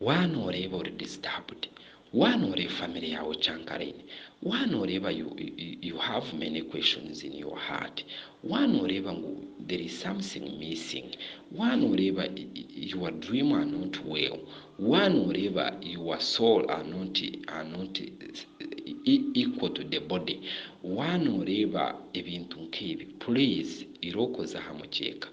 Waa noreeba ori disturbed, waa noreeba family yaawe ocankaraine, waa noreeba you you have many questions in your heart, waa noreeba ngu there is something missing, waa noreeba your dream are not well, waa noreeba your soul are not are not equal to the body, waa noreeba ebintu nk'ebi, please irokoza aha mukyeeka.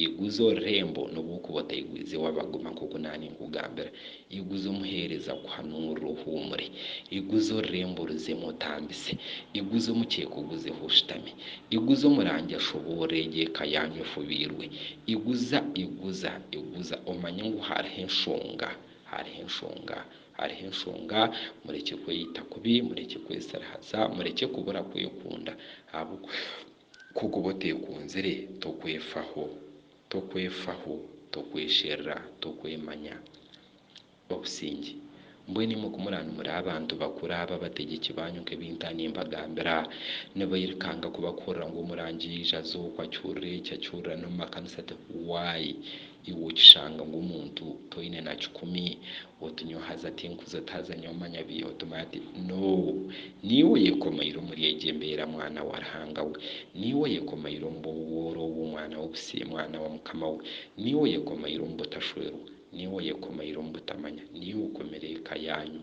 Iguza orurembo n'obu okuba otaigwize wabagoma nk'oku naaninkugambira. Iguza omuheereza kuhanuurira ohuumure. Iguza orurembo oruzemu otambise. Iguza omukyeeka oguzeho oshutame. Iguza omurangi ashoboorre egyo eka yaanyu efubiirwe. Iguza, iguza, iguza omanye ngu hariho enshonga, hariho enshonga, hariho enshonga. Murekye kweyita kubi, murekye kwesirihaza, murekye kubura kwekunda ahabw'okuba Ku okuba oteekunzire, tokwefaho, tokwefaho, tokwesherura, tokwemanya. Obusingye. Mbwenu imwe ku muraanumira abantu bakuru abo, abategyeki baanyu, nk'ebi nta nimbagambira, nibairukanga kubakuhurira ngu Omurangi yaija, aza oku, acurura eki, acurura n'omu makanisa ati, Why? Iwe okishanga ngu omuntu toine na kikumi oti nyowe haza tinkuza oti haza nyowe manya bi oti manya ti noo niiwe oyekomaire omuri egyo embeera mwana wa Ruhanga we niiwe oyekomaire omu bw'obwooro obwo mwana w'obusiye mwana wa Mukama we niiwe oyekomaire omu butashwerwa niiwe oyekomaire omu butamanya niiwe okomire eka yaanyu